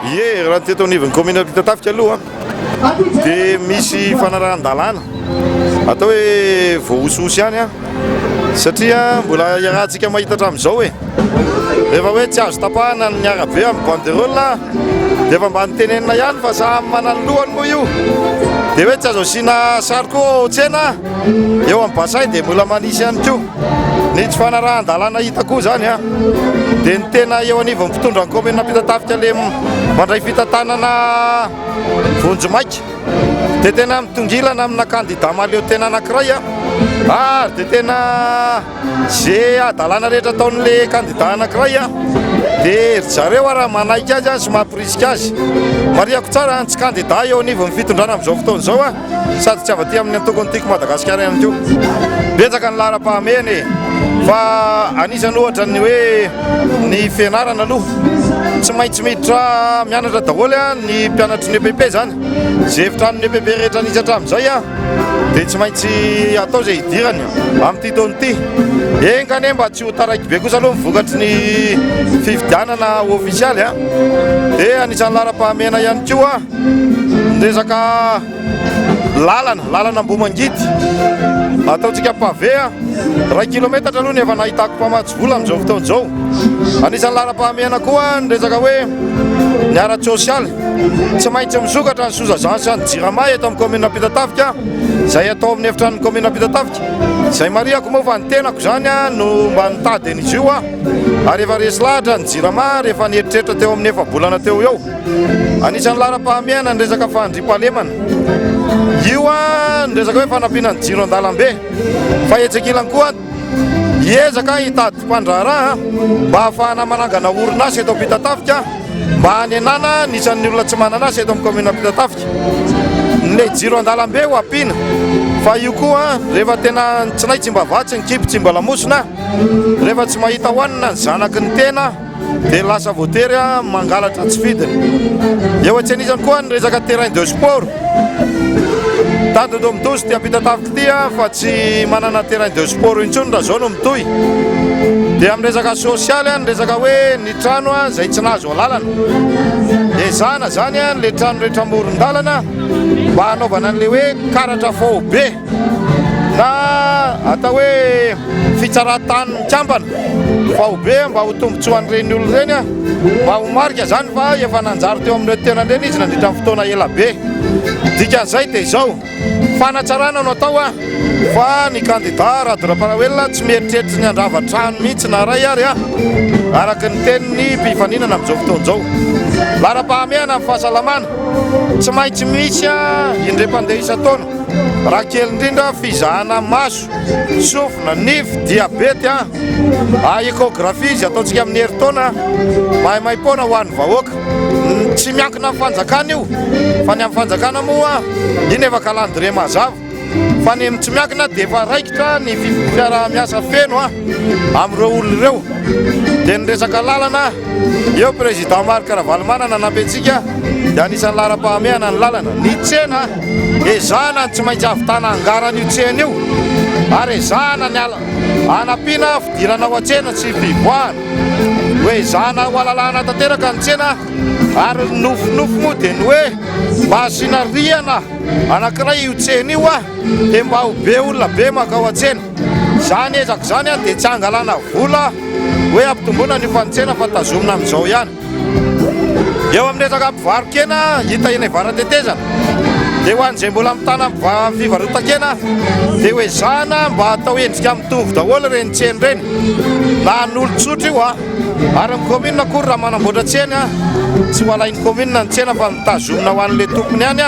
Ie, raha ny teto anivon'ny kaominina Ampitatafika aloha dia misy fanarahan-dalàna atao hoe voahosihosy ihany an satria mbola iarahantsika mahita hatramin'izao e rehefa hoe tsy azo tapahana ny arabe amin'ny banderole dia efa mba nitenenina ihany fa samy manany lohany moa io dia hoe tsy azo asiana sary koa ao tsena eo amin'ny basay dia mbola manisy ihany koa Ny tsy fanarahan-dalàna hita koa izany dia ny tena eo anivon'ny mpitondra ny kaominina Ampitatafika le mandray fitantanana vonjimaika dia tena mitongilana amina kandida mahaleo tena anankiray ary dia tena ze adalàna rehetra ataon'le kandida anankiray dia ry zareo ary manaiky azy sy mampirisika azy. Marihako tsara ny tsy kandida eo anivon'ny fitondrana amin'izao fotoana izao Sady tsy ava-tia amin'ny antoko ny Tiako Madagasikara ihany koa. Betsaka ny laharam-pahamehana e! Fa anisany ohatra ny hoe ny fianarana aloha. Tsy maintsy miditra mianatra daholo ny mpianatry ny EPP izany. Izay efitranon'ny EPP rehetra nisy hatramin'izay dia tsy maintsy atao izay hidirany amin'ity taona ity. Enga anie mba tsy ho taraiky be kosa aloha ny vokatry ny fifidianana ofisialy dia anisany laharam-pahamehana ihany koa. Ny resaka lalana, lalana Ambohimangidy, ataontsika pavé, iray kilometatra aloha ny efa nahitako mpamatsy vola amin'izao fotoana izao. Anisan'ny laharam-pahamehana koa ny resaka hoe ny ara-tsosialy. Tsy maintsy misokatra ny Sozazan sy ny Jirama eto amin'ny kaominina Ampitatafika, izay atao amin'ny efitranon'ny kaominina Ampitatafika. Izay marihako moa fa ny tenako izany no mba nitady an'izy io aho, ary efa resy lahatra ny Jirama rehefa nieritreritra teo amin'ny efa-bolana teo ho eo. Anisan'ny laharam-pahamehana ny resaka fahandriam-pahalemana. Io ny resaka hoe fanampiana ny jiro an-dalambe. Fa etsy ankilany koa hiezaka hitady mpandraharaha mba hahafahana manangana orinasa eto Ampitatafika mba hanenana ny isan'ny olona tsy manana asa eto amin'ny kaominina Ampitatafika. Ilay jiro an-dalambe ho ampiana fa io koa rehefa tena ny tsinay tsy mba vatsy, ny kibo tsy mba lamosina, rehefa tsy mahita hohanina ny zanaky ny tena. dia lasa voatery mangalatra tsy fidiny. Eo atsy an'izany koa ny resaka terrain de sport. Tandindoha mitozy ity ampitataviko ity fa tsy manana terrain de sport intsony raha izao no mitohy. Dia amin'ny resaka sosialy ny resaka hoe ny trano izay tsy nahazo alalana. Ezahana izany ilay trano rehetra amoron-dalana mba hanaovana an'ilay hoe karatra faobe. na atao hoe fitsaran-tany mikambana faobe mba ho tombontsoan'ireny olona ireny mba ho marika izany fa efa nanjary teo amin'ny tenany ireny izy nandritra ny fotoana ela be. Dikan'izay dia izao, fanatsarana no atao fa ny kandida Rado Ramparaoelina tsy mieritreritra ny handrava trano mihitsy na iray ary araka ny tenin'ny mpifaninana amin'izao fotoana izao. Laharam-pahamehana amin'ny fahasalamana, tsy maintsy misy indray mpandeha isan-taona. Raha kely indrindra fizahana maso, sofina, nify, diabety a! Ah, échographie izy ataontsika amin'ny herintaona maimaim-poana ho an'ny vahoaka. Tsy miankina amin'ny fanjakana io, fa ny amin'ny fanjakana moa iny efa calendrier mazava. Fa ny tsy miankina dia efa raikitra ny fiaraha-miasa feno a! amin'ireo olona ireo. Dia ny resaka lalana, eo président Marc Ravalomanana nanampy antsika dia anisan'ny laharam-pahamehana ny lalana. Ny tsena. Ezahana ny tsy maintsy ahavitana angarana io tsena io ary ezahana ny hanampiana fidirana ao an-tsena sy fivoahana. Hoezahana hohalalahana tanteraka ny tsena ary ny nofinofy moa dia ny hoe mba asiana rihana anankiray io tsena io dia mba ho be olona be mankao an-tsena. Izany ezaka izany dia tsy hangalana vola hoe hampitomboana ny ofan'ny tsena fa tazomina amin'izao ihany. Eo amin'ny resaka mpivaro-kena hita eny Varatetezana dia ho an'izay mbola mitana fivarotan-kena dia ho ezahana mba atao endrika mitovy daholo ireny tsena ireny na an'olon-tsotra io ary ny kaominina akory raha manamboatra tsena tsy ho alain'ny kaominina ny tsena fa mitazomina ho an'ilay tompony ihany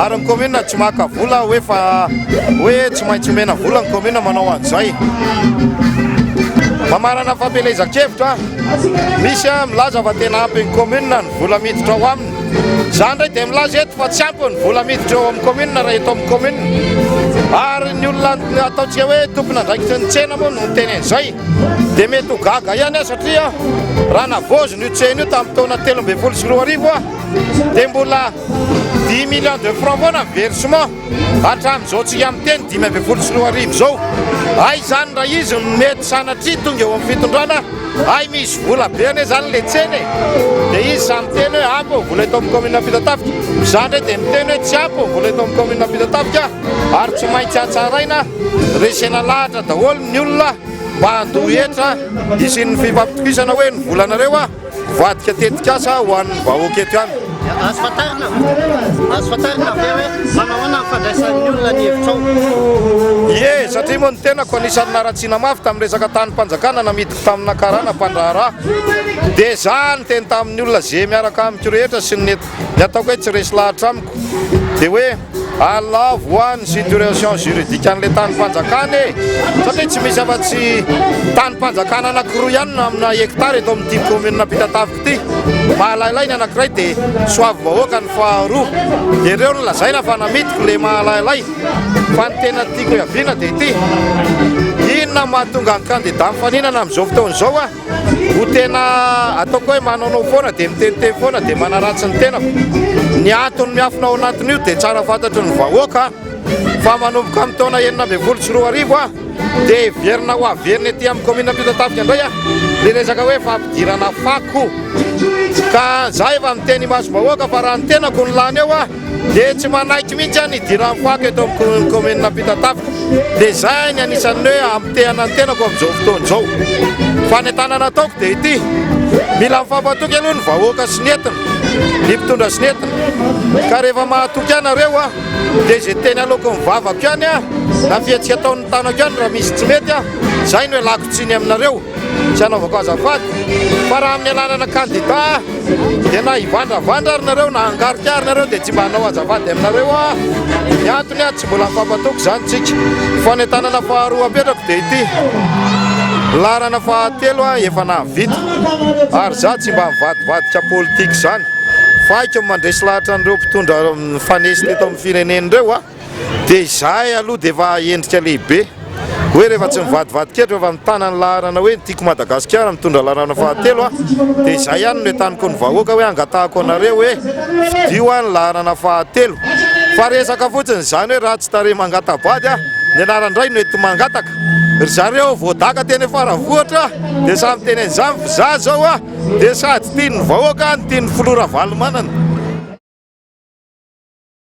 ary ny kaominina tsy maka vola hoe fa hoe tsy maintsy omena vola ny kaominina manao an'izay mamarana fampielezan-kevitra Misy milaza fa tena ampy ny commune ny vola miditra ao aminy. Izaho indray dia milaza eto fa tsy ampy ny vola miditra eo amin'ny commune raha eto amin'ny commune. Ary ny olona ataontsika hoe tompon'andraikitry ny tsena moa no miteny an'izay dia mety ho gaga ihany aho satria raha navaozina io tsena io tamin'ny taona telo ambin'ny folo sy roa arivo dia mbola dix millions de francs foana ny versement. Hatramin'izao tsika miteny dimy ambin'ny folo sy roa arivo izao, hay izany raha izy no mety sanatria tonga eo amin'ny fitondrana, hay misy vola be anie izany ilay tsena e! dia izy samy miteny hoe ampy ny vola eto amin'ny kaominina Ampitatafika, izaho indray dia miteny hoe tsy ampy ny vola eto amin'ny kaominina Ampitatafika ary tsy maintsy hatsaraina, resena lahatra daholo ny olona mba handoa hetra hisian'ny fifampitokisana hoe ny volanareo a! Mivadika tetikasa ho an'ny vahoaka eto ihany. Azo fantarina, azo fantarina ve hoe manahoana ny fandraisan'ny olona ny hevitrao? Ie, satria moa ny tenako anisan'ny naratsiana mafy tamin'ny resaka tanim-panjakana namidiko tamina karana mpandraharaha. Dia izaho niteny tamin'ny olona ze miaraka amiko rehetra sy ny nety. Ny ataoko hoe tsy resy lahatra amiko dia hoe alina voa ny situation juridique an'ilay tanim-panjakana e! Satria tsy misy afa-tsy tanim-panjakana anankiroa ihany no amina hectare eto amin'ity commune Ampitatafika ity. Mahalailay ny anankiray dia Soavibahoaka ny faharoa. Ireo no lazaina fa namidiko ilay mahalailay. Fa ny tena tiako hiaviana dia ity, inona no mahatonga ny candidat mifaninana amin'izao fotoana izao? Ho tena ataoko hoe manaonao foana dia miteniteny foana dia manaratsy ny tenako. Ny antony miafina ao anatin'io dia tsara fantatry ny vahoaka fa manomboka amin'ny taona enina ambin'ny folo sy roa arivo dia heverina ho averina ety amin'ny kaominina Ampitatafika indray ny resaka hoe fampidirana fako. Ka za efa miteny imasom-bahoaka fa raha ny tenako no lany eo dia tsy manaiky mihitsy aho ny hidiran'ny fako eto amin'ny commune Ampitatafika dia izay ny anisan'ny hoe hampitehana ny tenako amin'izao fotoana izao fa ny tanana ataoko dia ity mila mifampatoky aloha ny vahoaka sy ny entiny ny mpitondra sy ny entiny ka rehefa mahatoky anareo aho dia izay teny aloako ny vavako ihany aho na fihetsika ataon'ny tanako ihany raha misy tsy mety aho izay no elako tsiny aminareo tsy anaovako azafady fa raha amin'ny alalana kandida Dia na hivandravandra ary nareo na hangarika ary nareo dia tsy mba hanao azafady aminareo aho. Ny antony aho tsy mbola mifampatoky izany tsika. Ny fanentanana faharoa apetrako dia ity. Laharana fahatelo aho efa nahavita. Ary izaho tsy mba mivadibadika politika izany. Faiko ny mandresy lahatra an'ireo mpitondra mifanesy teto amin'ny firenena ireo aho. Dia izahay aloha dia efa endrika lehibe. Hoe rehefa tsy mivadivady ketra fa mitana ny laharana hoe ny Tiako Madagasikara mitondra laharana fahatelo aho dia izay ihany no entaniko ny vahoaka hoe angatahako anareo hoe fidio aho ny laharana fahatelo. Fa resaka fotsiny izany hoe ratsy tarehy mangata-bady aho, ny anarany indray no ety mangataka. Ry zareo voadaka teny Faravohitra dia samy teny an'izany fa izaho izao dia sady tian'ny vahoaka no tian'ny Filoha Ravalomanana.